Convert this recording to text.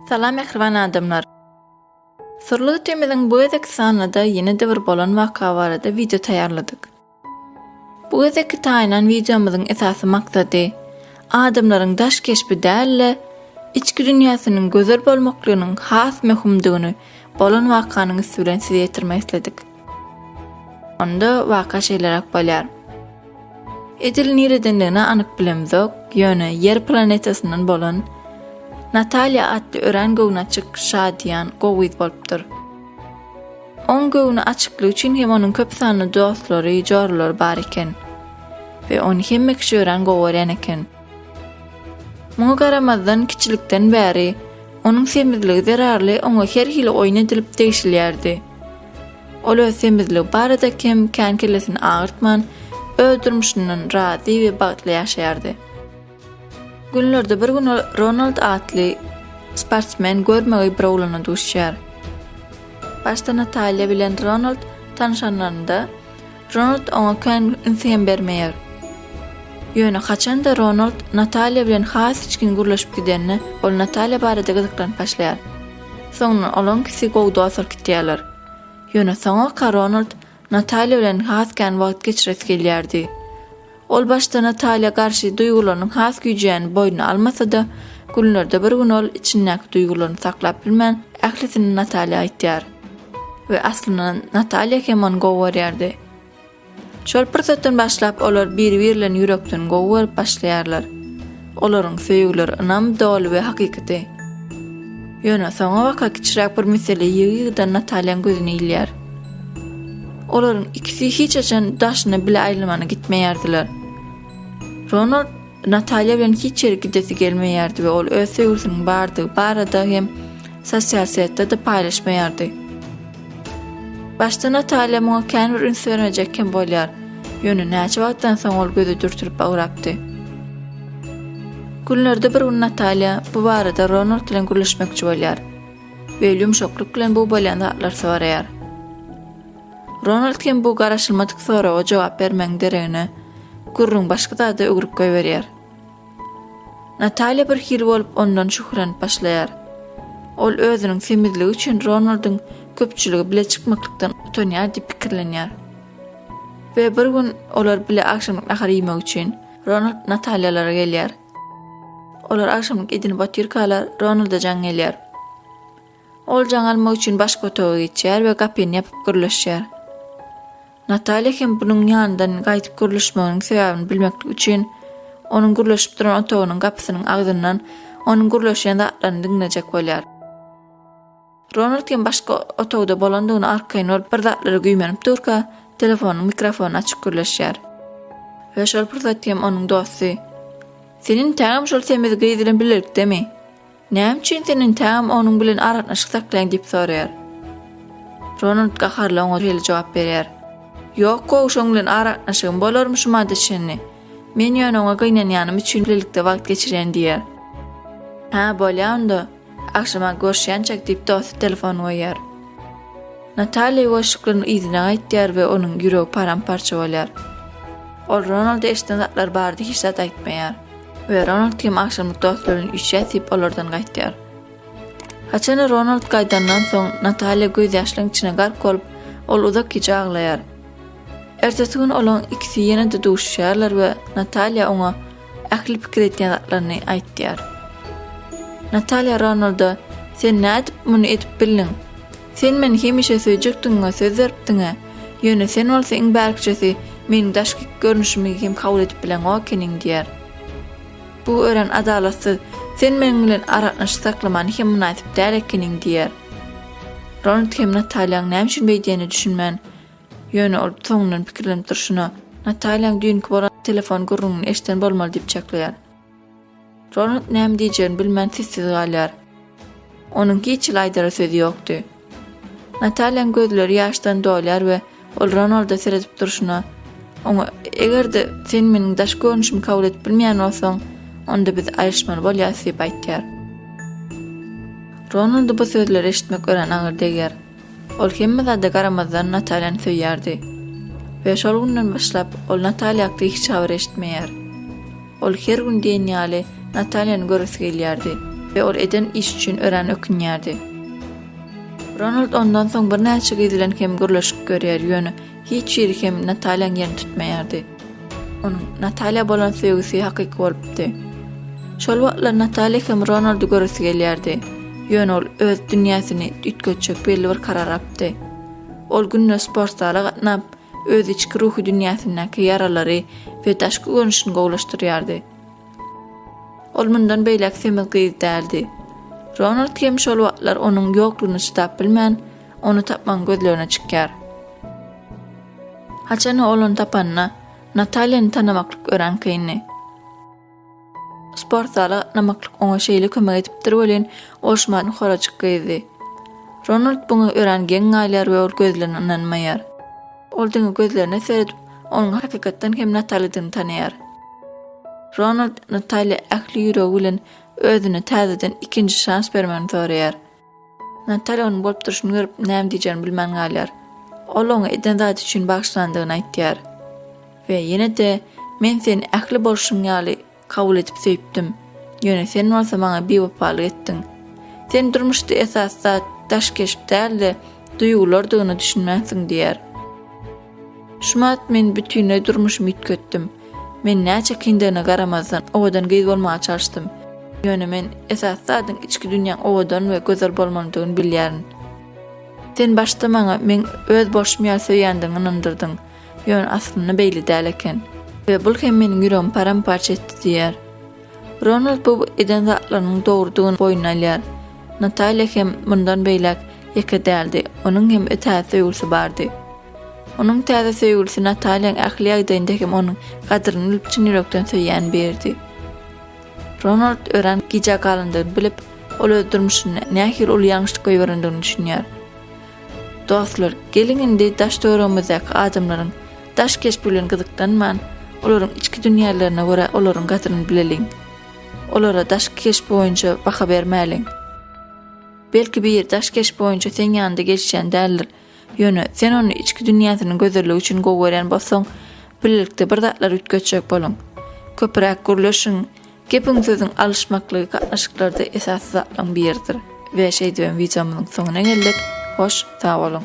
Salam mähriban adamlar. Syrly gitimiziň bu gezek sanynda ýene-de bir bolan waka barada wideo taýýarladyk. Bu gezek taýýan wideomyzyň esasy maksady adamlaryň daş keşbi däl-de, içki dünýäsiniň gözel bolmaklygynyň has möhümdigini bolan wakanyň üsti bilen size ýetirmek isledik. Onda waka şeýleräk bolýar. Edil niredendigini anyk bilemzok, ýöne Ýer planetasyndan bolan Natalýa atly örän göwnaçyk, şadyýan, gowyz bolupdyr. Oň göwni açyklygy üçin hem onuň köp sanly dostlary, jorlary bar eken we ony hemme kişi örän gowy görýän eken. Muňa garamazdan, kiçilikden bäri onuň semizligi zerarly oňa her hili oýun edilip degşilýärdi. Ol öz semizligi barada kem kän kellesini agyrtman, öz durmuşyndan razy we bagtly ýaşaýardy. Günlerde bir gün ol Ronald atly sportsmen görmegeý bir oglana duşýar. Başda Natalýa bilen Ronald tanyşanlarynda, Ronald oňa kän üns hem bermeýär. Ýöne haçan-da Ronald Natalýa bilen has içgin gürleşip gidenine, ol Natalýa barada gyzyklanyp başlaýar. Soňundan olaňkisi gowy dost bolup gidýärler. Ýöne soňa ka Ronald Natalýa bilen has kän wagt geçiresi gelýärdi. Ol başda Natalýa garşy duýgularynyň has güýjýäni boýnuna almasa-da, günlerde bir gün ol içindäki duýgularyny saklap bilmän, ählisini Natalýa aýtýar. We aslynda Natalýa hem ony gowy görýärdi. Şol pursatdan başlap olar biri-birlerini ýürekden gowy görüp başlaýarlar. Olaryň söýgüleri ynam doly we hakykady. Ýöne soňabaka kiçiräk bir mesele ýygy-ýygydan Natalýaň gözüne ilýär. Olaryň ikisi hiç haçan daşyna bile aýlymana gitmeýärdiler. Ronald Natalýa bilen hiç ýere gidesi gelmeýärdi we ol öz söýgüsiniň bardygy barada hem sosial setde-de paýlaşmaýardy. Başda Natalýa muňa känbir üns bermejek hem bolýar. Ýöne näçe wagtdan soň ol gözi dürtülip bagrapdy. Günlerde bir gün Natalýa bu barada Ronald bilen gürleşmekçi bolýar we ýumşaklyk bilen bu bolýan zatlar soraýar. Ronald hem bu garaşylmadyk soraga jogap bermegiň deregine, gürrüň başga zada öwrüp goýberýär. Natalýa birhili bolup ondan şühürlenip başlaýar. Ol özüniň semizligi üçin Ronaldyň köpçüligi bile çykmaklykdan utanýar diýip pikirlenýär. We bir gün olar bile agşamlyk nahar iýmek üçin Ronald Natalýalara gelýär. Olar agşamlyk edinip otyrkalar Ronalda jaň gelýär. Oljan almak üçin başga otaga geçýär we gapyny ýapyp gürleşýär. Natalýa hem bunuň ýanyndan gaýdyp gürleşmeginiň sebäbini bilmeklik üçin, onuň gürleşip duran otagynyň gapysynyň agzyndan onuň gürleşýän zatlaryny diňlejek bolýar. Ronald hem başga otagda bolandygyna arkaýyn bolup bir zatlara güýmenip durka, telefonyň mikrofonyny açyp gürleşýär. We şol pursat hem onuň dosty, Sen entägem şol semiz gyz bilen bilelikdemi? Näme üçin sen entegem onuň bilen aragatnaşyk saklaýaň diýip soraýar. Ronald gaharly oňa şeýle jogap berýär. Ýok gowy şoň bilen aragatnaşygym bolarmyşymada çenli. Men ýöne oňa gynanýanym üçin birlikde wagt geçirýän diýär. Hä bolýa onda. Agşama görüşýänçäk diýip dosty telefony goýýar. Nataliýa ýuwaşlyklarynyň yzyna gaýtýar we onuň ýüregi param-parça bolýar. Ol Ronalda eşden zatlar barada hiç zat aýtmaýar. we Ronald hem agşamlyk dostlary bilen üçýär diýip olardan gaýtýar. Haçan Ronald gaýdandan soň Nataliýa göz ýaşlaryň içine gark bolup, ol uzak gije aglaýar. Ertesi gün olaň ikisi ýene-de duşuşýarlar we Nataliýa oňa ähli pikir etýän zatlaryny aýtýar. Nataliýa Ronalda, Sen nädip muny edip bildiň? Sen meni hemişe söýjekdigiňe söz beripdiň-ä. Ýöne sen bolsa iň bärkijesi meniň daşky görnüşimi hem kabul edip bileň okeniň, diýer. Bu örän adalatsyz. Sen meniň bilen aragatnaşyk saklamany hem mynasyp däl ekeniň, diýer. Ronald hem Natalýaň näme üçin beýdýänine düşünmän, ýöne ol soňundan pikirlenip durşuna, Natalýaň düýnki bolan telefon gürrüňini eşiden bolmaly diýip çaklaýar. Ronald näme diýjegini bilmän sessiz galýar. Onuň hiç hili aýdara sözi ýokdy. Nataliýanyň gözleri ýaşdan dolýar we ol Ronalda seredip durşuna, oňa, Eger-de sen meniň daşky görnüşimi kabul edip bilmeýän bolsaň, onda biz aýryşmaly bolýarys diýip aýtýar. Ronalda bu sözleri eşitmek örän agyr degýär. Ol hemme zada garamazdan Natalýany söýýärdi. We şol günden başlap ol Natalýa hakda hiç habar eşitmeýär. Ol her gün diýen ýaly Natalýany göresi gelýärdi we ol eden iş üçin örän ökünýärdi. Ronald ondan soň birnäçe gyz bilen hem gürleşip görýär, ýöne Hiç ýeri hem Natalýaň ýerini tutmaýardy. Onuň Natalýa bolan söýgüsi hakyky bolupdy. Şol wagtlar Natalýa hem Ronaldy göresi gelýärdi. Ýöne ol öz dünýäsini üýtgetjek belli bir karar apdy. Ol günde sport zala gatnap, öz içki ruhy dünýäsindäki ýaralary we daşky görnüşini gowulaşdyrýardy. Ol mundan beýläk semiz gyz däldi. Ronald hem şol wagtlar onuň ýoklugyny çydap bilmän, Ony tapmagyň gözlerine çykýar. Haçan-a ol ony tapanyna, Natalýany tanamaklyk örän kyndy. Sport zala gatnamaklyk oňa şeýle kömek edipdir welin, ol şumat horajyk gyzdy. Ronald buňa örän geň galýar we ol gözlerine ynanmaýar. Ol diňe gözlerine seredip, onuň hakykatdan hem Natalýadygyny tanaýar. Ronald Natalýa ähli ýüregi bilen özüne täzeden ikinji şans bermegini soraýar. Natalýa onuň bolup durşuny görüp, näme diýjegini bilmän galýar. Ol oňa eden zady üçin bagyşlandygyny aýtýar we ýene-de Men seni ähli bolşum ýaly kabul edip söýüpdim, ýöne sen bolsa maňa biwepalyk etdiň. Sen durmuşda esasy zat daş keşp däl-de, duýgulardygyna düşünmänsiň diýýär. Şumat men bütinleý durmuşymy üýtgetdim. Men näçe kyndygyna garamazdan, owadan gyz bolmaga çalyşdym. Ýöne men esasy zadyň içki dünýäň owadan we gözel bolmalydygyny bilýärin. Sen başda maňa meň öz bolşum ýaly söýýändigiňi ynandyrdyň, ýöne aslynda beýle däl eken. We bul hem meniň ýüregimi param-parça etdi diýýär. Ronald bu eden zatlarynyň dogrudygyny boýnuna alýar. Natalýa hem mundan beýläk ýeke däldi, onuň hem täze söýgülisi bardy. Onuň täze söýgülisi Natalýaň ähli ýagdaýynda hem onuň gadyryny bilip çyn ýürekden söýýän biridi. Ronald örän gijä galandygyny bilip, ol öz durmuşynda nähili uly ýalňyşlyk goýberendigini düşünýär. Dostlar, geliň indi daş-töweregimizdäki adamlaryň Daş keşp bilen gyzyklanman, olaryň içki dünýälerine görä olaryň gadryny bileliň. Olara daşky keşp boýunça baha bermäliň. Belki biri daş keşp boýunça seň ýanyňda gelişýän däldir. Ýöne, sen ony içki dünýäsiniň gözelligi üçin gowy görýän bolsaň, bilelikde bir zatlar üýtgetjek boluň. Köpräk gürleşiň. Gepiň-sözüň alyşmaklygy gatnaşyklarda esasy zatlaryň biridir. We şeýdibem wideomyzyň soňuna geldik. Hoş, sag boluň!